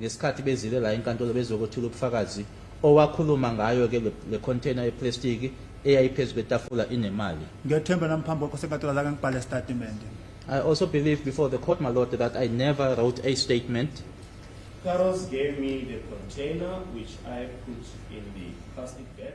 Ngesikhathi bezile la enkantolo bezokwethula ubufakazi owakhuluma ngayo ke le container yeplastiki eyayiphezu kwetafula inemali. Ngethemba namphambi kwakho senkantolo azange ngibhale isitatimende. I also believe before the court, my lord, that I never wrote a statement. Carlos gave me the container which I put in the plastic bag.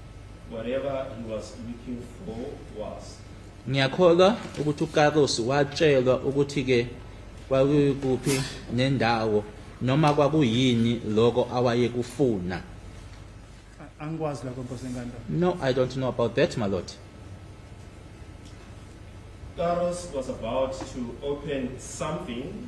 Whatever he was looking for was Ngiyakholwa ukuthi uKaros watshelwa ukuthi ke kwakuphi nendawo noma kwakuyini lokho awayekufuna. Angikwazi lokho Nkosi enkantolo. No, I don't know about that, my lord. Karos was about to open something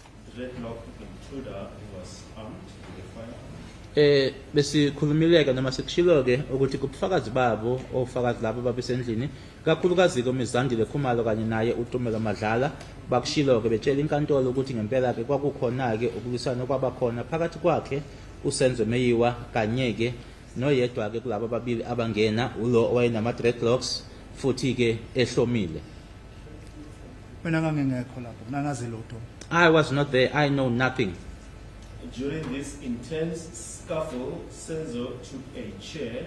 Eh besikhulumileke noma sikushilo-ke ukuthi kubufakazi babo ofakazi labo babesendlini kakhulukazi-ke umizandile khumalo kanye naye utumelo madlala bakushilo-ke betshela inkantolo ukuthi ngempela-ke kwakukhona-ke ukulwisana okwabakhona phakathi kwakhe usenzo meyiwa kanye-ke noyedwa-ke kulaba ababili abangena ulo owayenama-dreadlocks futhi-ke ehlomile Mina ngangingekho lapho, mina ngazi lutho. I was not there. I know nothing. During this intense scuffle, Senzo took a chair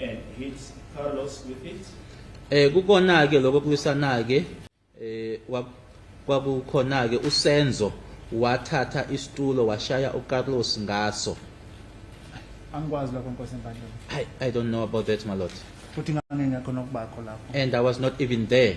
and hit Carlos with it. Eh kukona ke lokho kulisana ke eh kwakukhona ke uSenzo wathatha isitulo washaya uCarlos ngaso. Angikwazi lokho Nkosi Mbandlela. I I don't know about that my lord. Futhi ngangingekho nokubakho lapho. And I was not even there.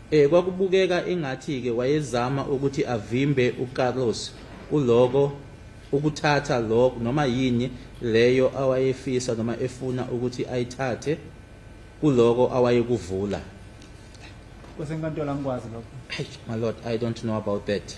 Eh kwakubukeka ingathi ke wayezama ukuthi avimbe uCarlos kuloko ukuthatha lokho noma yini leyo awayefisa noma efuna ukuthi ayithathe kuloko awayekuvula kwesenkantolo angikwazi lokho my lord i don't know about that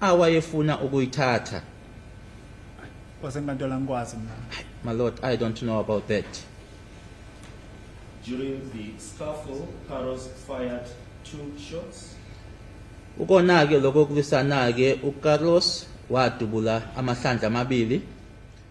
awayefuna ukuyithatha wasenkantolo angikwazi mina my lord i don't know about that during the scuffle Carlos fired two shots ukona-ke lokho kulwisana-ke ucarlos wadubula amahlandla amabili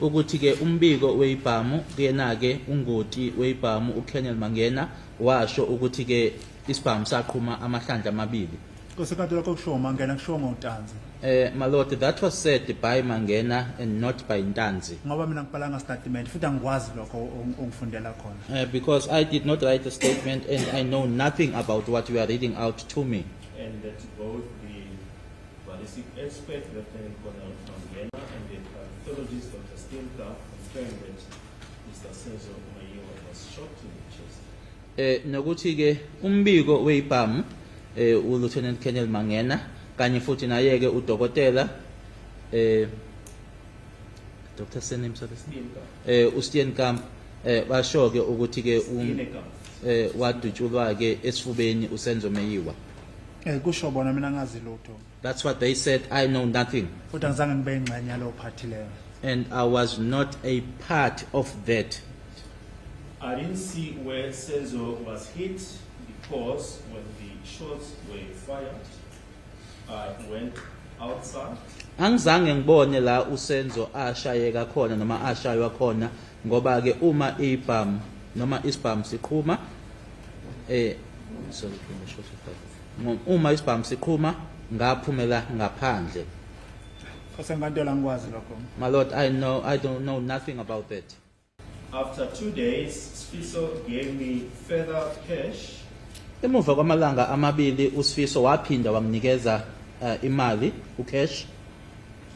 ukuthi-ke umbiko weyibhamu kuyena-ke ungoti weyibhamu ucolonel mangena washo ukuthi-ke isibhamu saqhuma amahlandla amabili kosekade lokho kushiwo mangena kushiwo ngotanzi Eh Maloti that was said by Mangena and not by Ntanzi. Ngoba mina ngibhalanga statement futhi angikwazi lokho ongifundela khona. Eh because I did not write a statement and I know nothing about what you are reading out to me. And that both Ballistic expert Lieutenant Colonel Mangena and the pathologist Dr. Stilka confirmed that Mr. Senzo Mayiwa was shot in the chest. Eh nokuthi ke umbiko weyibhamu eh u Lieutenant Colonel Mangena kanye futhi naye ke udokotela eh Dr. Senim Sabestilka eh u Steenkamp eh basho ke ukuthi ke um eh wadutshulwa ke esifubeni uSenzo Mayiwa Eh kusho bona mina ngazi lutho. That's what they said I know nothing. Futhi angizange ngibe ingxenye yalo party leyo. And I was not a part of that. I didn't see where Senzo was hit because when the shots were fired I went outside. Angizange ngibone la uSenzo ashayeka khona noma ashaywa khona ngoba ke uma ibhamu noma isibhamu siqhuma Eh sorry ngisho sifaka. Uma isibhamu siqhuma ngaphumela ngaphandle. Osenkantolo angikwazi lokho. My lord, I know I don't know nothing about that. After two days, Sfiso gave me further cash. Emuva kwamalanga amabili uSfiso waphinda wanginikeza uh, imali ucash.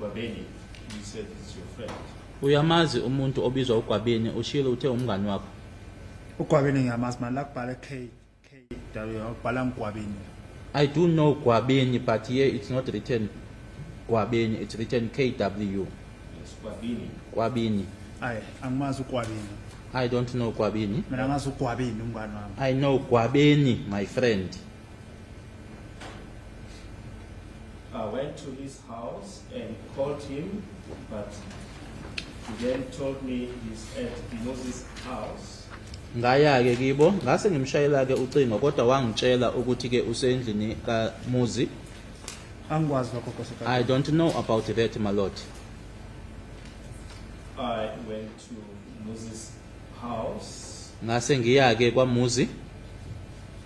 Babeni, you said it's your friend. Uyamazi umuntu obizwa uGwabeni ushilo uthe umngani wakho. Ugwabeni ngiyamazi manje la kubhala K K W ubhala ngigwabeni. I do know Gwabeni but here it's not written Gwabeni it's written KW. Yes, Gwabini. Gwabini. Ay angimazi uGwabeni. I don't know Gwabini. Mina ngazi uGwabeni umngani wami. I know Gwabeni my friend. I went to his house and called him, but he then told me he's at Moses' house. ngaya-ke kibo ngase ngimshayela-ke ucingo kodwa wangitshela ukuthi-ke usendlini kamuzi angikwazi lokho nkosikazi i don't know about that my lord I went to Moses' house ngase ngiya-ke kwamuzi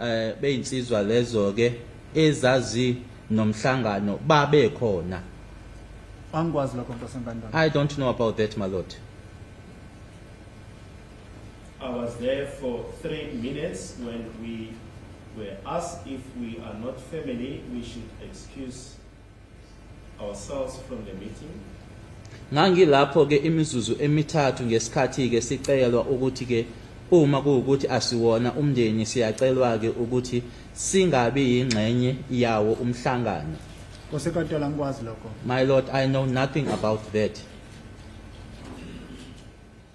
eh beyinsizwa lezo ke ezazi nomhlangano babe khona angikwazi lokho nkosembandayo i don't know about that my lord i was there for 3 minutes when we were asked if we are not family we should excuse ourselves from the meeting. Ngangilapho-ke imizuzu emithathu ngesikhathi-ke sicelwa ukuthi-ke uma kuwukuthi asiwona umndeni siyacelwa-ke ukuthi singabi yingxenye yawo umhlangano. Kosekadala ngikwazi lokho. My Lord, I know nothing about that.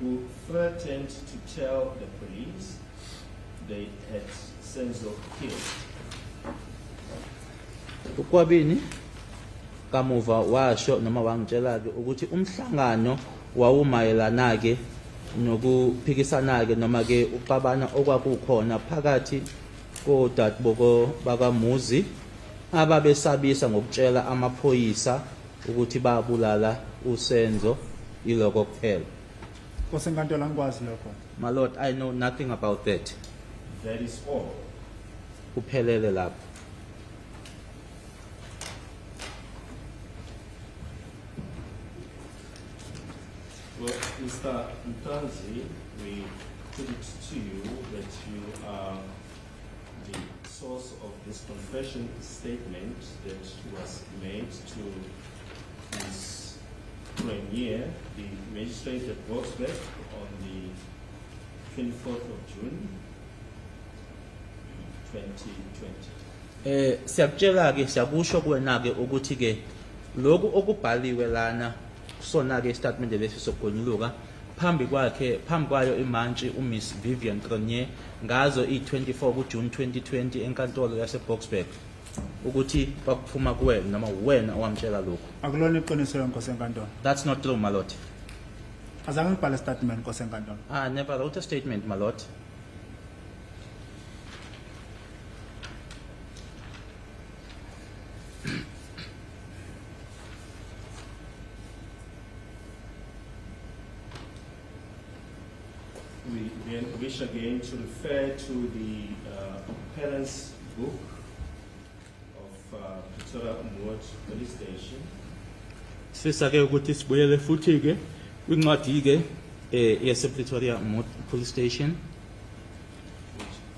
who threatened to tell the police they had Senzo killed. ukwabini kamuva washo noma wangitshela-ke ukuthi umhlangano wawumayelana-ke nokuphikisana-ke noma-ke uxabana okwakukhona phakathi kodadeboko bakamuzi ababesabisa ngokutshela amaphoyisa Ukuthi babulala uSenzo iloko kuphela. Nkosi enkantolo angikwazi lokho. My lord, I know nothing about that. That is all. Kuphelele lapho. Well, Mr. Mtanzi, we put it to you that you are source of this confession statement that was made to Ms. Premier, the magistrate at Boksburg, on the 24th of June 2020. Eh siyakutshela ke siyakusho kuwena ke ukuthi ke lokhu okubhaliwe lana Kusona-ke isitatimende lesi sokugonyuluka phambi kwakhe phambi kwayo imantshi uMiss Vivian Cronje ngazo i-24 kuJuni 2020 enkantolo yaseBoksburg ukuthi kwakuphuma kuwena noma uwena owamtshela lokhu. Akulona iqiniso lenkosi enkantolo. That's not true, Malote. Azange ngibhale statement nkosi enkantolo. I never wrote a statement, Malote. we again wish again to refer to the uh, parents' book of uh, Pretoria Umwot Police Station. Sifisa ke ukuthi sibuyele futhi ke kwincwadi ke eh, yase Pretoria Umwot Police Station.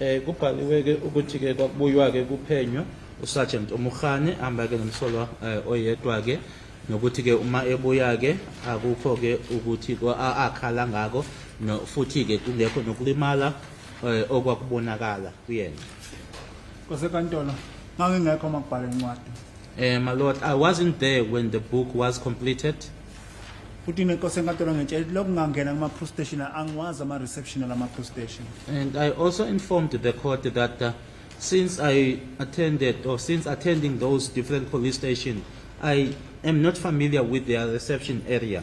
Eh kubhaliwe ke ukuthi ke kwakubuywa ke kuphenywa uSergeant Umukhane amba ke nomsolwa eh, oyedwa ke nokuthi ke uma ebuya ke akukho ke ukuthi akhala ngako no futhi ke kungekho nokulimala eh, okwakubonakala kuyena kwasenkantolo ngangingekho makubhala incwadi eh my lord i wasn't there when the book was completed futhi mina nkosi enkantolo ngitshela ukuthi lokungangena kuma police station angiwazi ama reception lama police station And I also informed the court that uh, since I attended or since attending those different police stations, I am not familiar with their reception area.